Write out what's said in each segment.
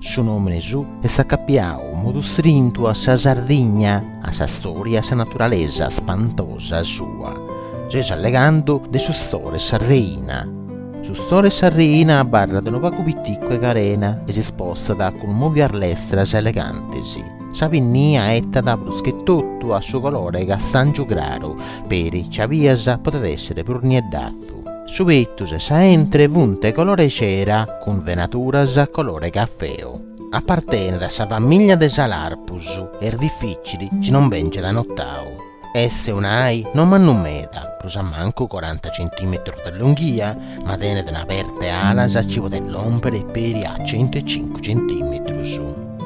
Su nòmine su est acapiadu in modu strintu a sa Sardigna, a sa storia e a sa naturalesa spantosa sua. Seus allegando de su store 'e sa reina. Su store 'e sa reina abarrat unu pagu piticu 'e carena e si spostat cun mòvias lestras e elegantes. Sa pinnia etat prus che totu a su colore 'e castàngiu craru, peri chi a bias podet èssere prus nieddatzu. Su petus e sa 'entre funt 'e colore cera cun venaturas colore cafeo. Apartenet a sa famìllia de is alarpus, est difìcili chi non bèngiat notau. Est un'ai no mannu meda, prus a mancu coranta centìmetrus de longhia, ma tenet un'aperta 'e alas chi podet lòmpere peri a centu e cincu centìmetrus.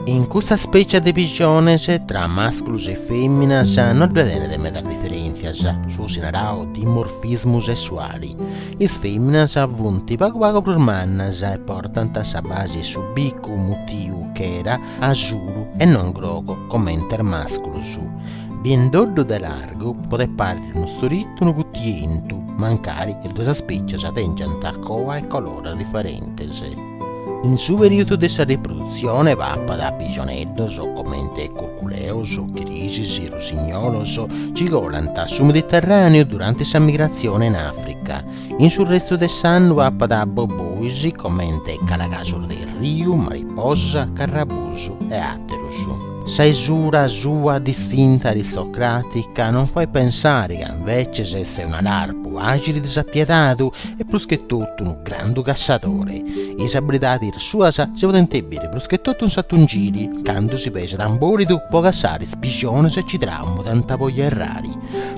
In custa spècia de pixones, tra masculus e fèminas no ddue tenet medas diferèntzias su gosi naradu dimorfismu sessuali, is fèminas funt pagu pagu prus mannas e portant sa basi 'e su bicu mutiu chera, asuru e non grogu comente is masculus. Biendoddu de largu podet pàrriri unu storitu o unu futientu, mancari is duas spècias tèngiant coa e colores diferentes. In su perìodu de sa riprodutzione papat pijoneddos comente curculeos, chirisis, russignolos, chi colant su Mediterràneu durante sa migratzione in Àfrica. In su restu de s'annu papat bobois comente calagasos de riu, mariposa, carrabusu e àteros. Sa isura sua distinta aristocràtica non fait pensare ca inveces est un'alarpu àgili disapiedadu e prus che totu unu grandu cassadore. Is abilidadis suas si podent biri prus che totu in s'atungili, candu si pesat in bòlidu po cassare is pijonis chi tramudant po ierrare.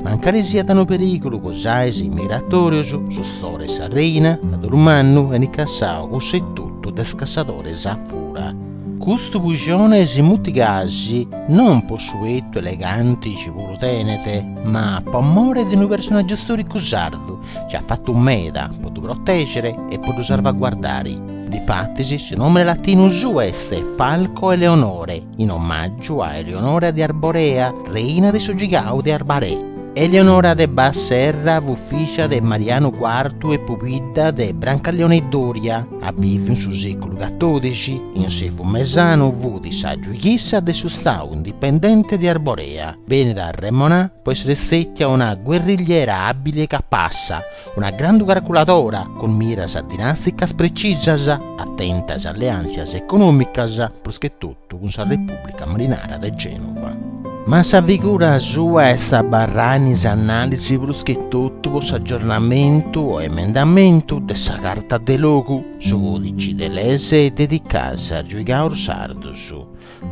Mancari siat unu perigulu po is ais migratòrius, su store 'e sa reina, a dolu mannu enit cassau cussu etotu de is cassadores a fura. Custu pujone si mutit gasi, non po su 'etu eleganti chi puru tenet, ma po amore de unu personaggiu storicu sardu chi at fatu meda po ddu protegere e po ddu sarvaguardare. Difatis su nomene latinu suu est Falco eleonorae, in omaggiu a Eleonora de Arborea, reina de su giuigau de Arbarè. Eleonora de Bas Serra fut fìgia de Marianu Quartu e pubidda de Brancaleone Doria. At bìviu in su sèculu catòrdixi, in s'Evu Mesanu fut sa giuighissa de su stau indipendente de Arborea, benit arremonada po essere stètia una guerrigliera àbbili e capassa, una grandu carculadora, cun miras dinàsticas precisas, atenta a is alleàntzias econòmicas, prus che totu, Cuntratu cun sa Repùblica Marinara de Gènova. Ma sa figura sua est abarrada in is annalis prus chi totu po s'aggiornamentu o emendamentu de sa Carta de logu, su còdici de leis dedicadas a giuigaus sardus.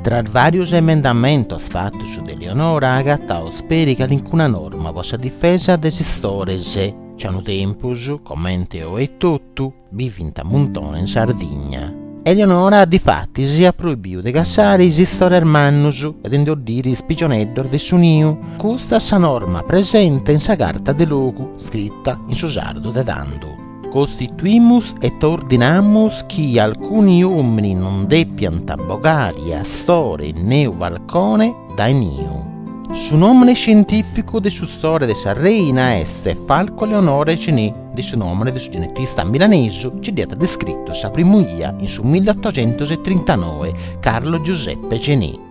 Tra is vàrius emendamentus fatus de Leonora agataus peri calincuna norma po sa difesa de is istores, ci a unu tempus, comente oe etotu, bivint a muntone in Sardigna. Eleonora difatis iat proibiu de cassare is istores mannus e de ndi oddire is pigioneddos de su niu. Custa est sa norma presente in sa carta de logu scrita in su sardu de tando. Costituimus et ordinamus chi alcuni omini non depiant bogare astore neu falcone dae niu. Su nomene scientificu de su store de sa reina est Falco eleonorae Gené. de su nòmene de su genetista milanesu ci dd'iat descritu sa primu 'ia in su milliotoxentositrintanoi Carlo Giuseppe Gené.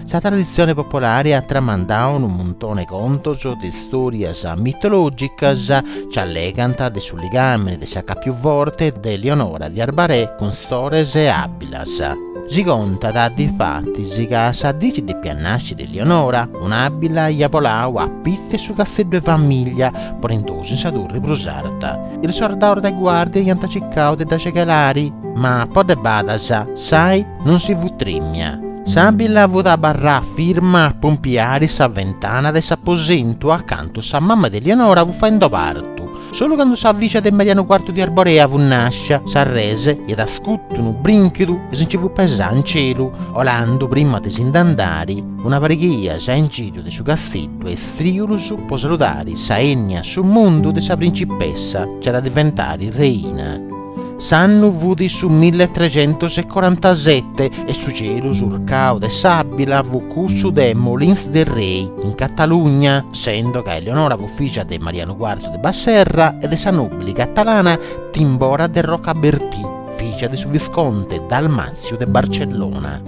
Sa traditzione popolare at tramandau unu muntone 'e contos de istòrias mitològicas ci allegant de su ligàmene de s'acàpiu forte de Leonora di Arbaré cun stores e àbilas, Si contat, difatis, ca sa dì ci depiat nàsciri Lionora, un'àbila iat boladu a pitzu 'e su casteddu 'e famìllia, ponendosi in sa turri prus arta. Is sordaus de guàrdia iant cicau de dda cegelari, ma po de badas s'ai non si fut trìmia. S'àbila fut abarrada firma a pompiari sa ventana de s'aposentu acantu sa mama de Lionora fut faendo partu, Solu candu sa fìgia de Marianu Quartu di Arborea fut nàscia, s'arrese iat iscutu unu brìnchidu e si nci fut pesada in celu, olandu, prima de si nd'andari, una pariga 'e 'ias in giru de su casteddu e istrìulus po saludari sa 'ennia a su mundu de sa principessa ci at a diventari reina. S'annu fut su milletrecentosecorantasette e su celu surcau de s'àbila fut cussu de Molins de Rei, in Catalugna, sendo ca Eleonora fut fìgia de Marianu Cuartu de Bas-Serra e de sa nòbili catalana Timbora de Rocabertí, fìgia de su visconte Dalmàtziu de Barcellona.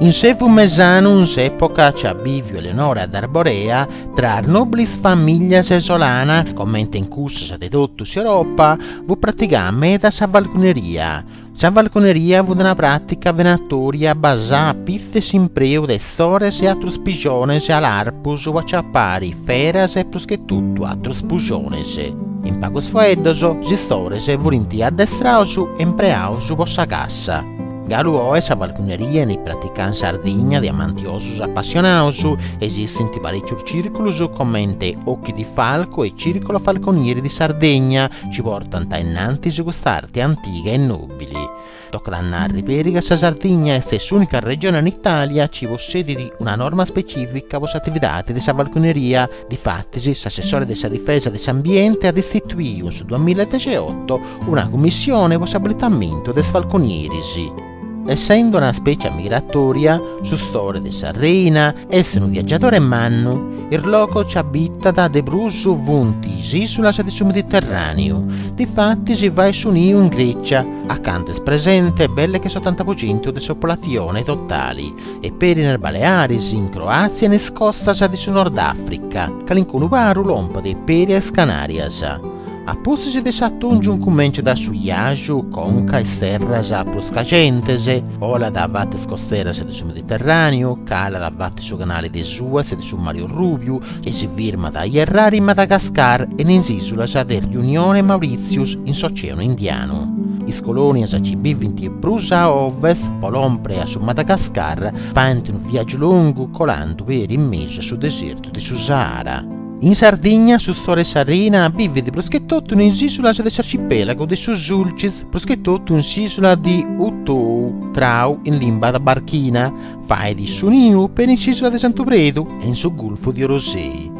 In s'evu mesanu, in s'època ci at bìviu Eleonora d'Arborea, tra is nòbilis famìlias isolanas, comente in cussas de totu s'Europa, Fut pratigada meda sa falconeria. Sa falconeria fut una pràtica venatoria basada a pitzu 'e s'impreu de istores e atrus pijones alarpus po aciapare feras e pruschetotu atrus pujones. In pagus faeddos, is istores furint addestrados e impreados po sa cassa. Galu oe sa falconeria 'enit praticada in Sardigna de amantiosos apassionados, esistint parècius Circulus comente Occhi di Falco e Circolo Falconieri di Sardegna ci portant a innantis cust'arte antiga e nobili. Tocat a narri peri ca sa Sardigna est s'unica regione in Italia ci possedit una norma specifica po s'atividadi de sa falconeria, difatis s'assessore de sa difesa de s'ambiente at istituiu in su duamilla e dexiotto una cummissione po s'abilitamentu de is falconieris. Essende una spècia migratòria, su store de sa reina est unu viagiadore mannu, is logos ci abitat de prus funt is ìsulas de su Mediterràneu, difatis si fait su niu in Grècia, a cantu est presente belle che s'otanta pro centu de sa popolatzione totale, e peri in is Balearis, in Croàtzia e in is costas de su Nordàfrica, calincunu paru lompet peri a is Canàrias. A pustis de s'atòngiu incumentzat su 'iaju conca a is terras prus cajentes, olat a fatu 'e is costeras de su Mediterràneu, calat a fatu 'e su canali de Suez e de su Mari Orrùbiu e si firmat a ierrari in Madagascar e in is ìsulas de Riunione e Maurìtzius in s'Oceanu Indianu. Is colònias ci bivint prus a ovest po lòmpere a su Madagascar faint unu viàgiu longu colàndu peri in mesu a su desertu de su Sahara. In Sardigna su store 'e sa reina bivit prus che totu in is ìsulas de s'arcipèlagu de su Sulcis, prus che totu in s'ìsula di U Tou, Trau in limba tabarchina, fait su niu peri in s'ìsula de Santu Predu e in su gulfu de Orosei.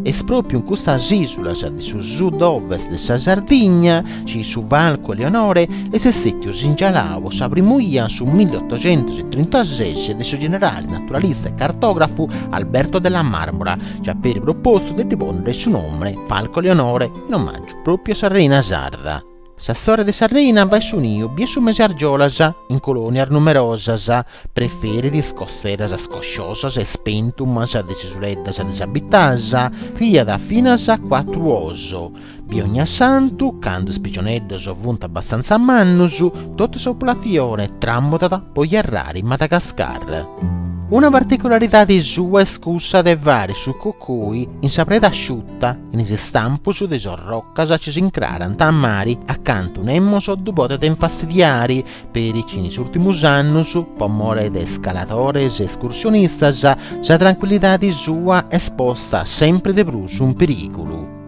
Est pròpiu in custas ìsulas de su sud-ovest de sa Sardigna ci su falcu Eleonore est istètiu singialau po sa primu 'ia in su milliotocentosetrintases de su generale naturalista e cartografu Alberto della Marmora chi at peri propostu de ddi ponnere su nomene Falco Eleonore in omaggiu propriu a sa reina sarda. S'astore de sa reina fait su niu bia su mese 'e argiolas in colonias numerosas preferit is costeras scosciosas e spentumas de s'isuleddas disabitadas criat finas cuatru oos Bia Ognassantu, candu is pixoneddos funt abbastanza mannus, totu sa populazione tramudat po ierrare in Madagascar. Una particularidade sua est cussa de fare su cocoi in sa preda asciuta, in is istampus de is orrocas ci s'incrarant a mari a cantu nemos ddu podet infastidiare, peri chi in is ùrtimus annus, po more de scaladores e escursionistas, sa trancuillidade sua est posta sempri de prus in perìgulu.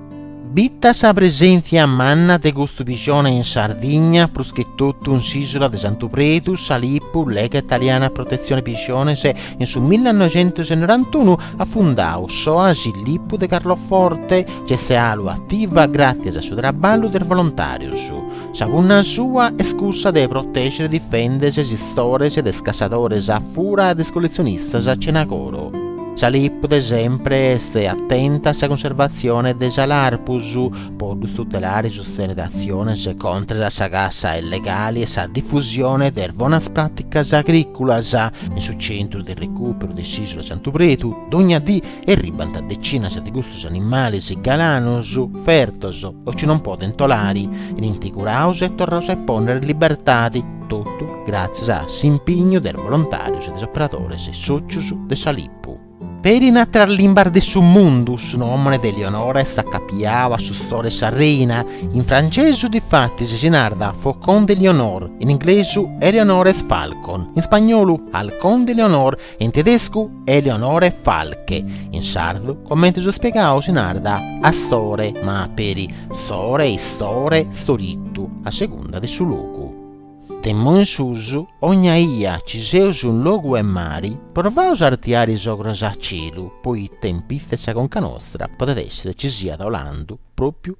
Bita sa presèntzia manna de custu pixone in Sardigna, prus che totu in s'ìsula de Santu Predu, sa LIPU, Lega Italiana Protezione Pixones, in su millanoixentosenorantunu at fundau s'Oasi Lipu de Carloforte, ci est 'alu ativa gràtzias a su traballu de is volontàrius. Sa punna sua est cussa de protègere e difèndere is istores de is cassadores a fura e de is collezionistas cena coro. Sa LIPU de sempre est atenta a sa cunservatzione de sa Larpus, po ddus tutelare e sustenere atziones contras a sa cassa illegali e sa difusione de is bonas pràticas agrìculas. In su centru de recùperu de s'ìsula Santu Predu, dònnia dì erribant decinas de custus animales galanos, fertos o chi non podent olare, benint curados e torrados a pònnere in libertade. Totu gràtzias a s'impignu de is bolontàrius e de is operadores e sòcius de sa LIPU. Peri in àteras limbas de su mundu, su nòmene de Eleonora est acapiau a su stori de sa reina, in francesu difatis si narat Faucon d'Éléonore, in inglesu Eleonora's Falcon, in spagnolu Halcón de Eleonor, in tedescu Eleonorenfalke, in sardu comente eus spiegadu si narat Astore ma peri Store, Istore, Storitu a segunda de su logu. De immo in susu, ogna ia ci seus in logu 'e mari provaus a artiare is ogros a celu poite in pitzu 'e sa conca nostra podet essere ci siat olandu propriu